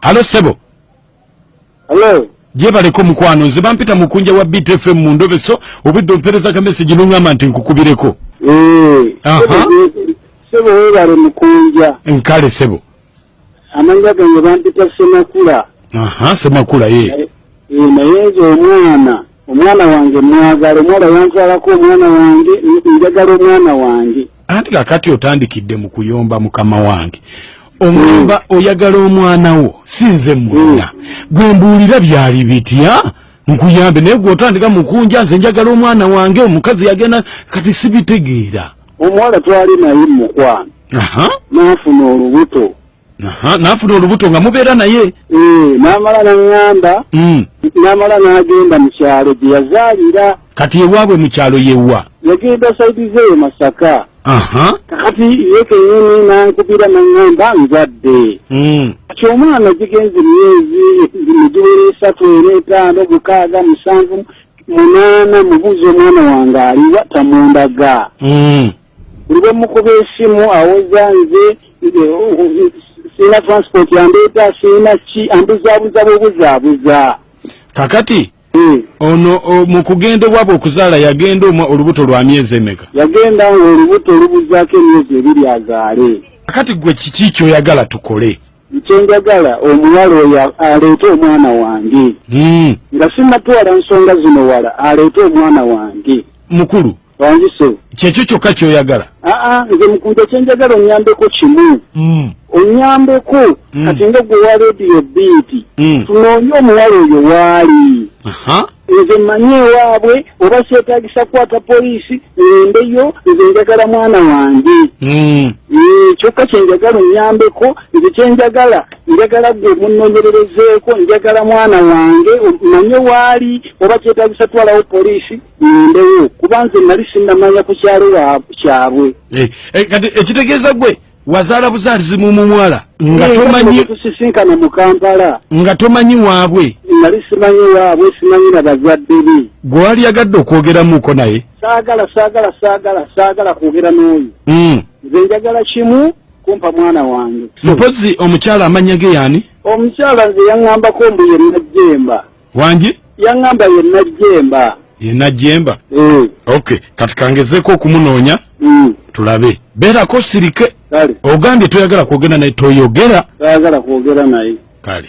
Halo sebo. Halo. Je baleko mukwano nze bampita mukunja wa Beat FM mu ndobeso obudde ompereza ka message nungamba nti nkukubireko. Eh. Aha. Sebo webale mukunja. Nkale sebo. Amanya gange bampita Semakula. Aha, Semakula ye. Eh, eh, naye nze omwana, omwana wange mwagala, omwana yanzalako omwana wange, njagala omwana wange. Anti kakati otandikidde mu kuyomba mukama wange. Omwamba mm. oyagala omwana wo, sinze mwana. Mm. Gwe mbuulira byali bitya? Nkuyambe naye gwe otandika mukunja nze njagala omwana wange omukazi yagenda kati sibitegeera. omuwala twali naye mumukwano nafuna olubuto nafuna olubuto nga mubeera naye eh, namala naŋamba hmm. namala nagenda mukyalo gyeyazaalira kati ewaabwe mukyalo yewa yagenda saidi zeyo masaka kakati ye kenyini nankubira naŋamba nzadde hmm. kati omwana gigenzi myezi migiwera esatu era etaano mukaaga musanvu munaana mubuuza omwana wange aliwa tamundaga mm. buli bwemukuba esimu awoza nze sirina transport yandeeta sirina ki ambuzaabuza bwobuzaabuza kakati eh. ono mu kugenda obwabwe okuzaala yagenda omwa olubuto lwa myezi emeka yagenda nga olubuto olubuzaako emyezi ebiri azaale kakati gwe kiki kyoyagala tukole Kyenjagala omuwala oyo aleete omwana wange hmm. nga sinatwala nsonga zino wala aleete omwana wange mukulu wanjise kyekyo kyokka kyoyagala aa nze mukunja kyenjagala onyambeko kimu hmm. onyambeko hmm. kati nga gwe wa rediyo biiti tunoonye omuwala oyo waali nze mmanyi ewaabwe oba kyetagisa kukwata poliisi ngendeyo nze njagala mwana wange hmm. eh, kyokka kyenjagala onyambeko nze kyenjagala njagala gwe munonyererezeeko njagala mwana wange manye waali oba kyetagisa twalawo poliisi ngendeyo kuba nze nali sinamanya ku kyalo kyabwe eh, eh, kati ekitegeeza gwe wazala buzalizi mumumwala nga eh, tomanyi tusisinkana mu kampala nga tomanyi waabwe nali simanyi waabwe simanyi na bazadde be gwewali yagadde okwogeramuko naye saagala saagala saagala saagala kwogera n'oyo hmm. nze njagala kimu kumpa mwana wange mpozi omukyala amanya ge yani omukyala nze yaŋambako mbu ye najjemba wangi yaŋamba ye najjemba ye najjemba mm. ok kati kangezeko okumunoonya mm. tulabe beerako sirike ogambye toyagala kwogera naye toyogera toyagala kwogera naye kale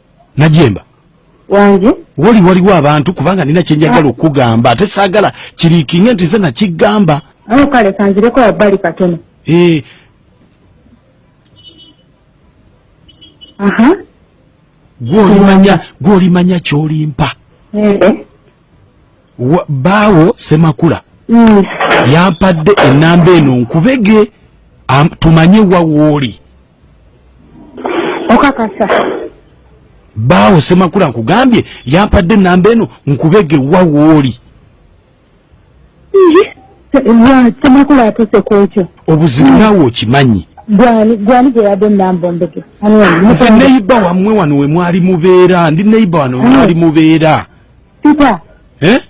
najemba wange woli waliwo abantu kubanga nina kyenjagala okugamba ate saagala kirikinge nti nze nakigamba awo kale kanzireko wabbali katono eh. gwolimanya gwolimanya kyolimpa eh. baawo semakula mm. yampadde enamba eno nkubege tumanye wawooli okakasa baawo semakula nkugambye yampadde enamba eno nkubege wa wooli semakula atuse kwekyo obuzibu naawe okimanyi nze neyiba wamwe wano wemwali mubeera ndi neyiba wano wemwali mubeera peter eh?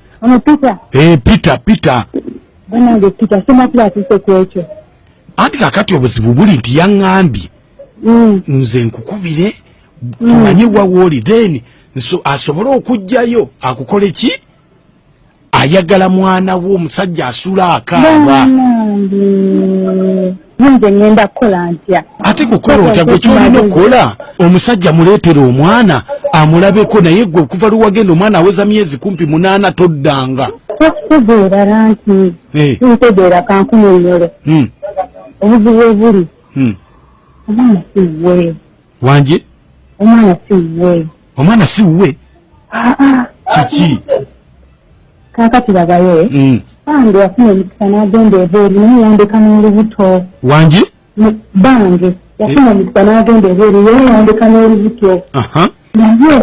peter eh, peter peter banange peter semakula atuse kwekyo anti kakati obuzibu buli nti yaŋambye mm. nze nkukubire mm. tumanye wawooli then asobole okugjayo akukole ki ayagala mwana wo omusajja asula akaaba nze ngenda kukola ntya ate kukola otya gwe kyolina okukola omusajja muleetera omwana amulabeko naye gwe okuva lwewagenda omwana aweza myezi kumpi munaana toddanga tokubeerala nti eh. ntegeera kankunyonyole hmm. obuzibu ebuli hmm. omwana si wuwe wanje omwana si wuwe omwana si wuwe ah, ah. kiki kakati babaye bambi hmm. wafuna omukisa n'agenda ebweru naye yandeka n'olubuto wanje bange yafuna omukisa n'agenda ebweru yeyandika n'oluzityo naye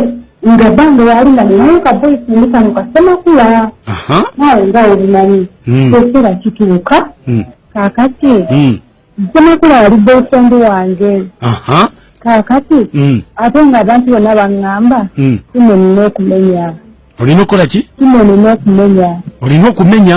nga bange yali nga ninayo ka boyfriend kano kasemakula naawe nga olumanyi hmm. ekiseera kituuka hmm. kakati hmm. semakula yali boyfriend wange kakati ate nga abantu bonna baŋŋamba simenina okumenya olina okukola ki simenina okumenya olina okumenya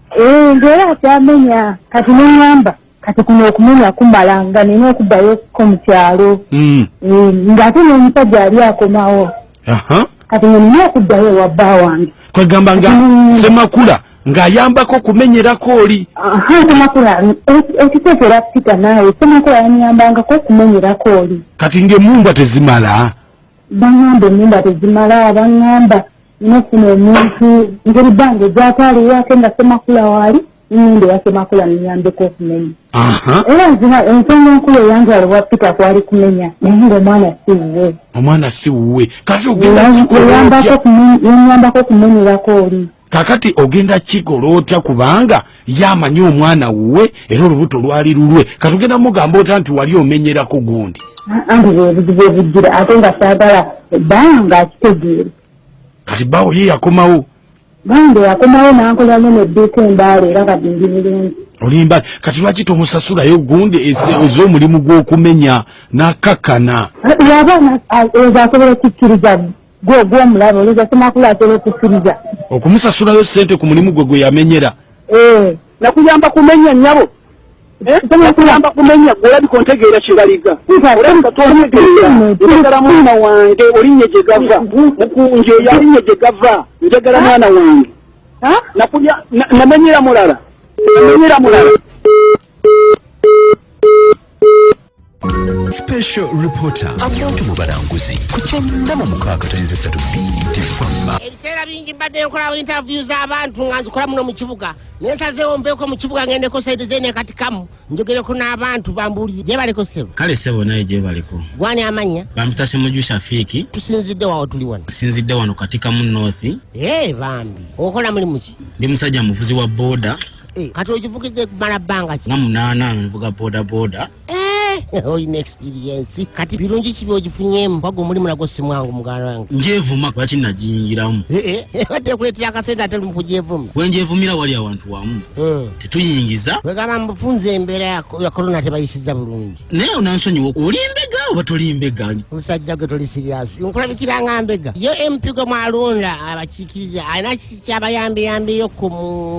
Eh, ngera akyamenya kati neŋamba kati kuno okumenya kumala nga nina okubayo ko mu kyalo hmm. eh, ng'ate n'omusajja ali akomawo kati nga nina okuddayo ewa bba wange kwegamba nga hmm. semakula ng'ayambako okumenyerako oli semakula ekiteekera pita naawe semakula yanyambangako okumenyerako oli kati ng'emumbwa tezimala baŋamba emumbwa tezimala baŋamba nofuna omuntu ngeri bange gyatwaliwo ate nga semakula waali nende wasemakula niyambeko okumenya era nzina ensonga enkulu eyantwala owa pita kwali kumenya naye nga omwana siwuwe omwana siwuwe kati ogendayambako okumenyerako oli kakati ogenda kikola otya kubanga yamanyi omwana wuwe era olubuto lwali lulwe katugenda mugamba ota nti wali omenyerako gundi anti bwebuzibu obujjira ate nga saagala baawo ngaakitegeere kati baawo ye yakomawo bambe yakomawo nankolamu nedduuka embaala era kati ndi bulungi olimba kati lwaki tomusasulayo gundi ez'omulimu gw'okumenya nakakana yaba ezasobola kikkiriza gwe ogw'omulaba olowooza semakula atera okukkiriza okumusasulayo sente ku mulimu gwe gwe yamenyera eh. nakuyamba kumenya nyabo eh? nakuyamba kumenya olabika ontegeera kyebaliga olabika tontegeera njagala mwana wange olinye gye gava mukunje yalinye gye gava njagala mwana wange namenyera mulala namenyera mulala special reporter abantu mu balanguzi ku kyannama mukaaga tayinza esatu binti fama ebiseera bingi mbadde nkolawo interview z'abantu nga nzikola muno mu kibuga naye sazeewo mbeeko mu kibuga ngendeko saidi zene kati kamu njogereko n'abantu bambuulire gyebaleko ssebo kale ssebo naye gyebaleko gwani amannya bamputa semuju shafiiki tusinzidde wawo tuli wano tusinzidde wano kati kamu north ee eh, bambi okola mulimu ki ndi musajja muvuzi wa booda Eh, kati ogivugidde kumala bbanga ki nga munaana nvuga bodaboda Eh, olina experience kati birungi kibi ogifunyemu baga omulimu nagwo si mwangu muganda wange ngyevuma lwaki nagiyingiramu Eh, eh, badde kuleetera akasente ate lumu kugyevuma bwe ngyevumira wali awantu wamu Hmm. tetuyingiza wegamba mufunza embeera ya ko- ya korona tebayisiza bulungi naye onansonyiwa oli mbega oba toli mbega omusajja gwe toli siriyasi nkulabikira nga mbega ye mpigo mwalonda abakiikirira alina ki- kyabayambiyambiyo ku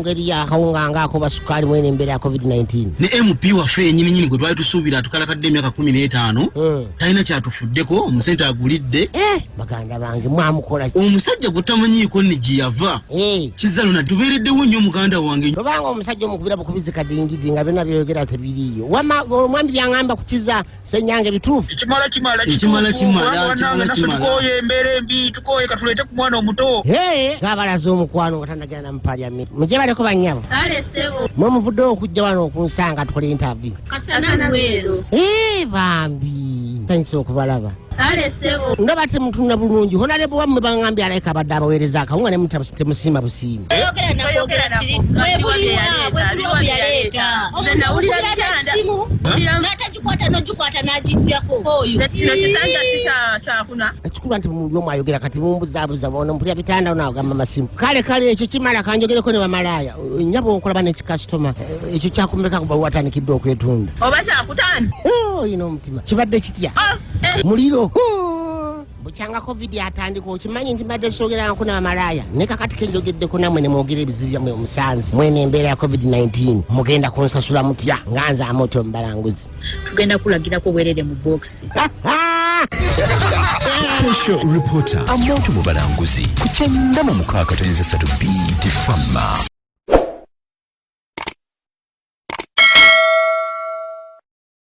ngeri yakawunga nga akuba sukaali mwene embeera ya covid-19 ne mp waffe yenyininyini gwe twali tusuubira atukalakadde emyaka kumi n'etaano hmm. talina kyatufuddeko omusente agulidde eh, baganda bange mwamukola omusajja gwetamanyiiko ni gye yava eh. kizalo na tubeereddewo nnyo muganda wange obanga omusajja omukubira bukubizi kadingidi nga byona byoyogera tebiriiyo omwami byaŋamba kukiza senyange bituufu ekimala kimala Ekimala kimala, ekimala kimala. kituwanangaatukoye embeera embi tukoye katuleete ku mwana omuto Hey, ng'abalaze omukwano nga tanagenda mu parliament mugye baleko bannyabo kale ssebo mwe muvuddewo okujja wano okunsanga tukole interview kasana lwero Eh, bambi thanks okubalaba kale ssebo ndaba temutunula bulungi honalebo wammwe baŋambye alayika abadde abaweereza akawunga ne mutabusa temusiima busiima ekikulu nti muli omu ayogera kati mumbuzabuza ono mpulira bitanda ono agamba masimu kale kale ekyo kimala kanjogereko ne bamalaaya nyaba onkolaba nekikasitoma eh, ekyo kyakumeka kuba watandikidde okwetunda oba kyakutanda oh, ino omutima kibadde kitya ah, eh. muliro bukyanga covid atandika okimanyi nti mbadde soogerangako n'amalaaya ne kakati ke njogeddeko namwe ne mwogera ebizibu byammwe omusanze mwene embeera ya covid-19 mugenda kunsasula mutya nga nze amoto mbalanguzi tugenda kulagirako bwerere mu bokisi Special reporter amoto mu balanguzi ku kyenda mu mukaaga tonyeza ssatu bt fama